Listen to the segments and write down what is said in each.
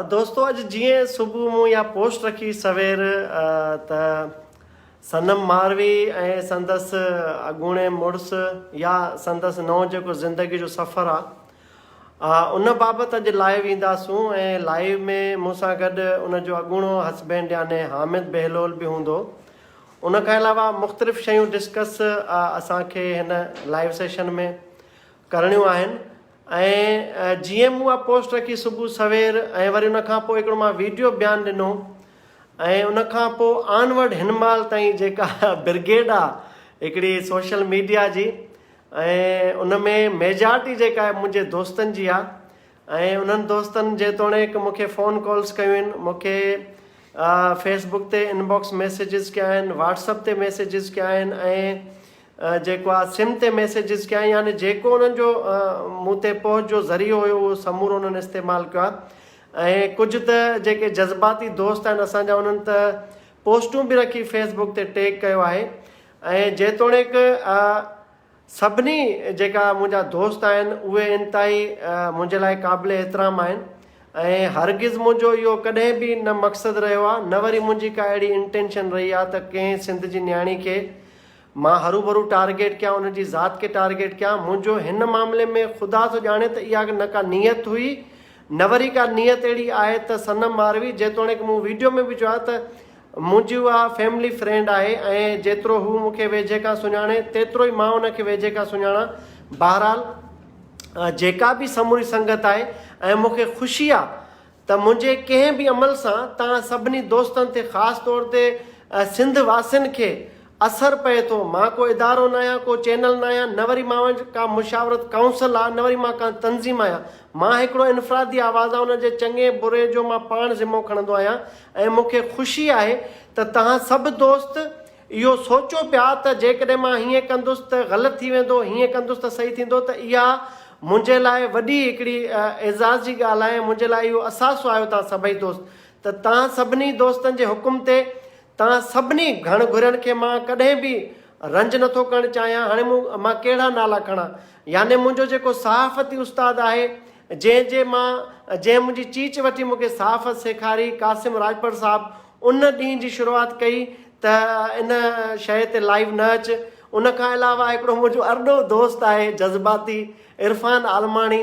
دوستو اڄ جيئن صبح مون اها پوسٽ رکي سوير ته صنم ماروي ۽ سندس اڳوڻي مڙس يا سندس نئون جيڪو زندگي جو سفر آ ان بابت اڄ لائيو اينداسون ۽ لائيو ۾ مون سان گڏ ان جو اڳوڻو هسبينڊ يعني حامد بهلول به هوندو ان کان علاوه مختلف شيون ڊسڪس اسان کي هن لائيو سيشن ۾ ڪرڻيون آهن ۽ جيئن مون اها پوسٽ رکي صبح سوير ۽ وري ان کان پوء هڪڙو مان ويڊيو بيان ڏنو ۽ ان کان پوء آن ورڊ هن مهل تائين جيڪا برگيڊ آهي هڪڙي سوشل ميڊيا جي ۽ ان ۾ ميجارٽي جيڪا آهي منهنجي دوستن جي آهي ۽ انهن دوستن جيتوڻيڪ مون کي فون ڪالز ڪيون آهن مون کي فيس بڪ تي ان باڪس ميسيجز ڪيا آهن واٽس اپ تي ميسيجز ڪيا آهن ۽ جيڪو آء سم تي ميسيجز ڪيا يعني جيڪو انهن جو مون تي پهچ جو ذريعو هيو اهو سمورو انهن استعمال ڪيو آهي ۽ ڪجهه ته جيڪي جذباتي دوست آهن اسان جا انهن ته پوسٽون به رکي فيس بڪ تي ٽيگ ڪيو آهي ۽ جيتوڻيڪ سڀني جيڪا منهنجا دوست آهن اهي انتهائي منهنجي لاء قابل احترام آهن ۽ هرگز منهنجو اهو ڪڏهن به نه مقصد رهيو آهي نه وري منهنجي ڪا اهڙي انٽينشن رهي آهي ته ڪنهن سنڌ جي نياڻي کي مان هروڀرو ٽارگيٽ ڪيان ان جي ذات کي ٽارگيٽ ڪيان منهنجو هن معاملي ۾ خدا ٿو ڄاڻي ته اها نه ڪا نيت هئي نه وري ڪا نيت اهڙي آهي ته صنم ماروي جيتوڻيڪ مون ويڊيو ۾ به چيو آهي ته منهنجي اها فيملي فرينڊ آهي ۽ جيترو هو مون کي ويجهي کان سڃاڻي تيترو ئي مان ان کي ويجهي کان سڃاڻان بهرحال جيڪا به سموري سنگت آهي ۽ مون کي خوشي آهي ته منهنجي ڪنهن به عمل سان توهان سڀني دوستن تي خاص طور تي سنڌ واسين کي اثر پئي ٿو. مان ڪو ادارو ناهيان، ڪو چينل ناهيان، نه وري مان وٽ ڪا مشاورت ڪائونسل آ، نه وري مان ڪا تنظيم آهيان. مان هڪڙو انفرادي آواز آهيان ان جي چڱي بري جو مان پاڻ ذمو کڻندو آهيان ۽ مون کي خوشي آهي ته توهان سڀ دوست، اهو سوچيو پيا ته جيڪڏهن مان هيئن ڪندس ته غلط ٿي ويندو، هيئن ڪندس ته صحيح ٿيندو ته اها منهنجي لاء وڏي هڪڙي اعزاز جي ڳالهه آهي ۽ منهنجي لاء اهو اثاثو آهيو توهان سڀئي دوست ته توهان سڀني دوستن جي حڪم تي توهان سڀني گهڻ گهرين کي مان ڪڏهن به رنج نٿو ڪرڻ چاهيان هاڻي مون مان ڪهڙا نالا کڻان يعني منهنجو جيڪو صحافتي استاد آهي جنهن جي مان جنهن منهنجي چيچ وٺي مونکي صحافت سيکاري قاسم راڄپر صاحب ان ڏينهن جي شروعات ڪئي ته ان شيء تي لائيو نه اچ. ان کان علاوه هڪڙو منهنجو ارڏو دوست آهي جذباتي عرفان عالماڻي.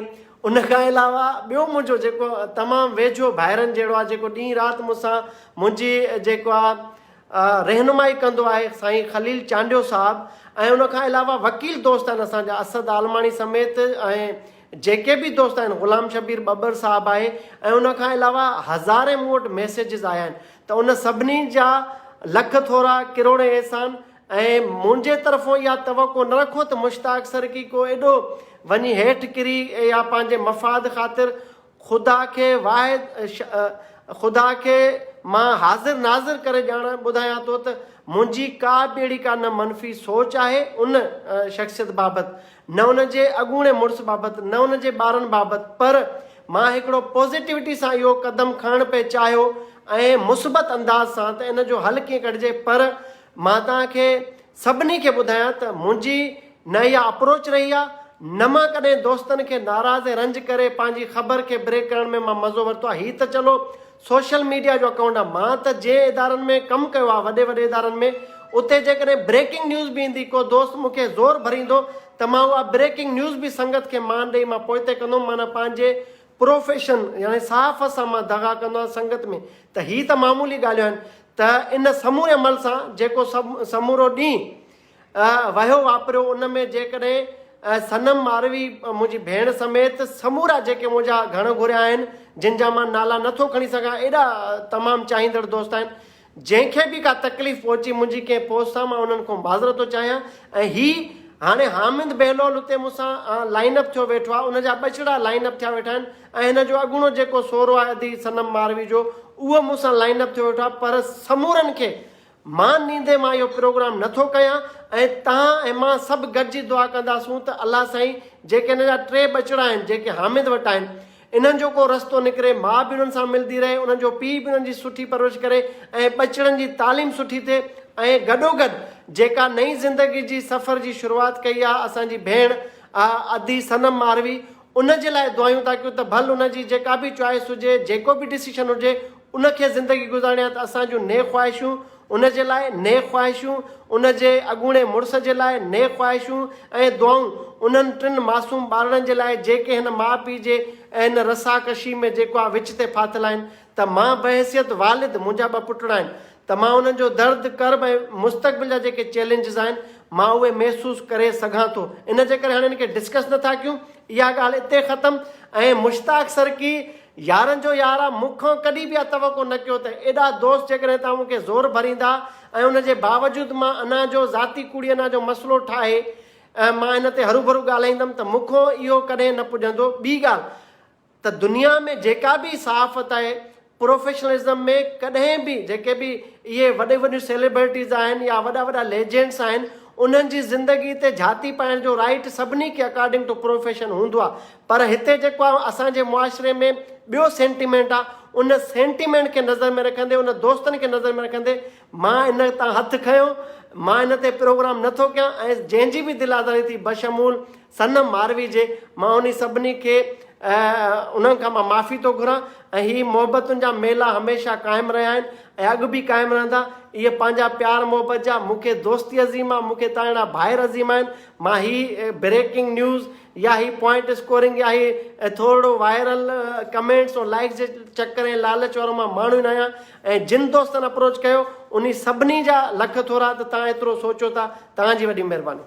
ان کان علاوه ٻيو منهنجو جيڪو تمام ويجهو ڀائرن جهڙو آهي جيڪو ڏينهن رات مون سان منهنجي جيڪو آ رهنمائي ڪندو آهي سائين خليل چانڊيو صاحب ۽ ان کان علاوه وڪيل دوست آهن اسان جا اسد عالماڻي سميت ۽ جيڪي به دوست آهن غلام شبير ٻٻر صاحب آهي ۽ ان کان علاوه هزارين مون وٽ ميسيجز آيا آهن ته ان سڀني جا لک ٿورا ڪروڙين احسان ۽ منهنجي طرفون اها توقع نه رکو ته مشتاق سرڪي ڪو ايڏو وڃي هيٺ ڪري يا پنهنجي مفاد خاطر خدا کي واحد خدا کي مان حاضر ناظر ڪري ڄاڻان ٻڌايان ٿو ته منهنجي ڪا به اهڙي ڪا نه منفي سوچ آهي ان شخصيت بابت، نه ان جي اڳوڻي مڙس بابت، نه ان جي ٻارن بابت پر مان هڪڙو پازيٽوٽي سان اهو قدم کڻڻ پئي چاهيو ۽ مثبت انداز سان ته ان جو حل ڪيئن ڪڍجي پر مان توهان کي سڀني کي ٻڌايان ته منهنجي نه اها اپروچ رهي آهي نه مان ڪڏهن دوستن کي ناراض ۽ رنج ڪري پنهنجي خبر کي بريڪ ڪرڻ ۾ مان مزو ورتو آهي هي ته چلو سوشل ميڊيا جو اڪائونٽ آهي مان ته جنهن ادارن ۾ ڪم ڪيو آهي وڏي وڏي ادارن ۾ اتي جيڪڏهن بريڪنگ نيوز به ايندي ڪو دوست مون کي زور ڀريندو ته مان اها بريڪنگ نيوز به سنگت کي مان ڏئي مان پوئتي ڪندو هوم معنيٰ پنهنجي پروفيشن يعني صحافت سان مان دغا ڪندو آهيان سنگت ۾ ته هي ته معمولي ڳالهيون آهن ته ان سموري عمل سان جيڪو سمورو ڏينهن وهيو واپريو ان ۾ جيڪڏهن صنم ماروي منهنجي ڀيڻ سميت سمورا جيڪي منهنجا گهڻ گهريا آهن جن جا مان نالا نه ٿو کڻي سگهان ايڏا تمام چاهيندڙ دوست آهن جنهن کي به ڪا تڪليف پهچي منهنجي ڪنهن پوسٽ سان مان انهن کان معذرت ٿو چاهيان ۽ هي هاڻي حامد بهلول اتي مون سان لائن اپ ٿيو ويٺو آهي ان جا ٻچڙا لائن اپ ٿيا ويٺا آهن ۽ هن جو اڳوڻو جيڪو سورو آهي ادي صنم ماروي جو اهو مون سان لائن اپ ٿيو ويٺو آهي پر سمورن کي مان نيندي مان اهو پروگرام نه ٿو ڪيان ۽ توهان ۽ مان سڀ گڏجي دعا ڪنداسون ته الله سائين جيڪي هن جا ٽي ٻچڙا آهن جيڪي حامد وٽ آهن انهن جو ڪو رستو نڪري ماء به انهن سان ملندي رهي انهن جو پيء به انهن جي سٺي پرورش ڪري ۽ ٻچڙن جي تعليم سٺي ٿئي ۽ گڏوگڏ جيڪا نئين زندگي جي سفر جي شروعات ڪئي آهي اسان جي ڀيڻ ادي صنم ماروي ان جي لاء دعايون ٿا ڪيون ته ڀل ان جي جيڪا به چوائس هجي جيڪو به ڊسيشن هجي ان کي زندگي گذارڻي آهي ته اسان جون نيڪ خواهشون ان جي لاء، نيڪ خواهشون ان جي اڳوڻي مڙس جي لاء، نيڪ خواهشون ۽ دعائون انهن ٽن معصوم ٻارڙن جي لاء جيڪي هن ماء پيء جي ۽ هن رساڪشي ۾ جيڪو آء وچ تي ڦاٿل آهن ته مان بحيثيت والد منهنجا ٻه پٽڙا آهن ته مان انهن جو درد، ڪرب ۽ مستقبل جا جيڪي چئلينجز آهن مان اهي محسوس ڪري سگهان ٿو ان جي ڪري هاڻي ان کي ڊسڪس نه ٿا ڪيون اها ڳالهه اتي ختم ۽ مشتاق سرڪي يارن جو يار آ مون کان ڪڏهن به اها توقع نه ڪيو ته ايڏا دوست جيڪڏهن توهان مون کي زور ڀريندا ۽ ان جي باوجود مان انا جو ذاتي ڪوڙي انا جو مسئلو ٺاهي مان ان تي هروڀرو ڳالهائيندم ته مون کان اهو ڪڏهن نه پڄندو ٻي ڳالهه ته دنيا ۾ جيڪا به صحافت آهي پروفيشنلزم ۾ ڪڏهن به جيڪي به اهي وڏيون وڏيون سيلبرٽيز آهن يا وڏا وڏا ليجينڊس آهن انهن جي زندگي تي جهاتي پائڻ جو رائيٽ سڀني کي اڪارڊنگ ٽو پروفيشن هوندو آهي پر هتي جيڪو آهي اسان جي معاشري ۾ ٻيو سينٽيمينٽ آهي ان سينٽيمينٽ کي نظر ۾ رکندي ان دوستن کي نظر ۾ رکندي مان ان تان هٿ کنيو مان ان تي پروگرام نٿو ڪيان ۽ جنهن جي به دل آزاري ٿي بشمول صنم ماروي جي مان انهي سڀني کي انهن کان مان معافي ٿو گهران ۽ هي محبتن جا ميلا هميشه قائم رهيا آهن ۽ اڳ به قائم رهندا اهي پنهنجا پيار محبت جا مون کي دوستي عظيم آ مون کي تاهيڙا ڀائر عظيم آهن مان هي بريڪنگ نيوز يا هي پوائنٽ اسڪورنگ يا هي ٿورڙو وائرل ڪمينٽس ۽ لائڪس جي چڪر ۽ لالچ وارو مان ماڻهو نه آهيان ۽ جن دوستن اپروچ ڪيو انهي سڀني جا لک ٿورا ته تهان ايترو سوچو ٿا تهان جي وڏي مهرباني.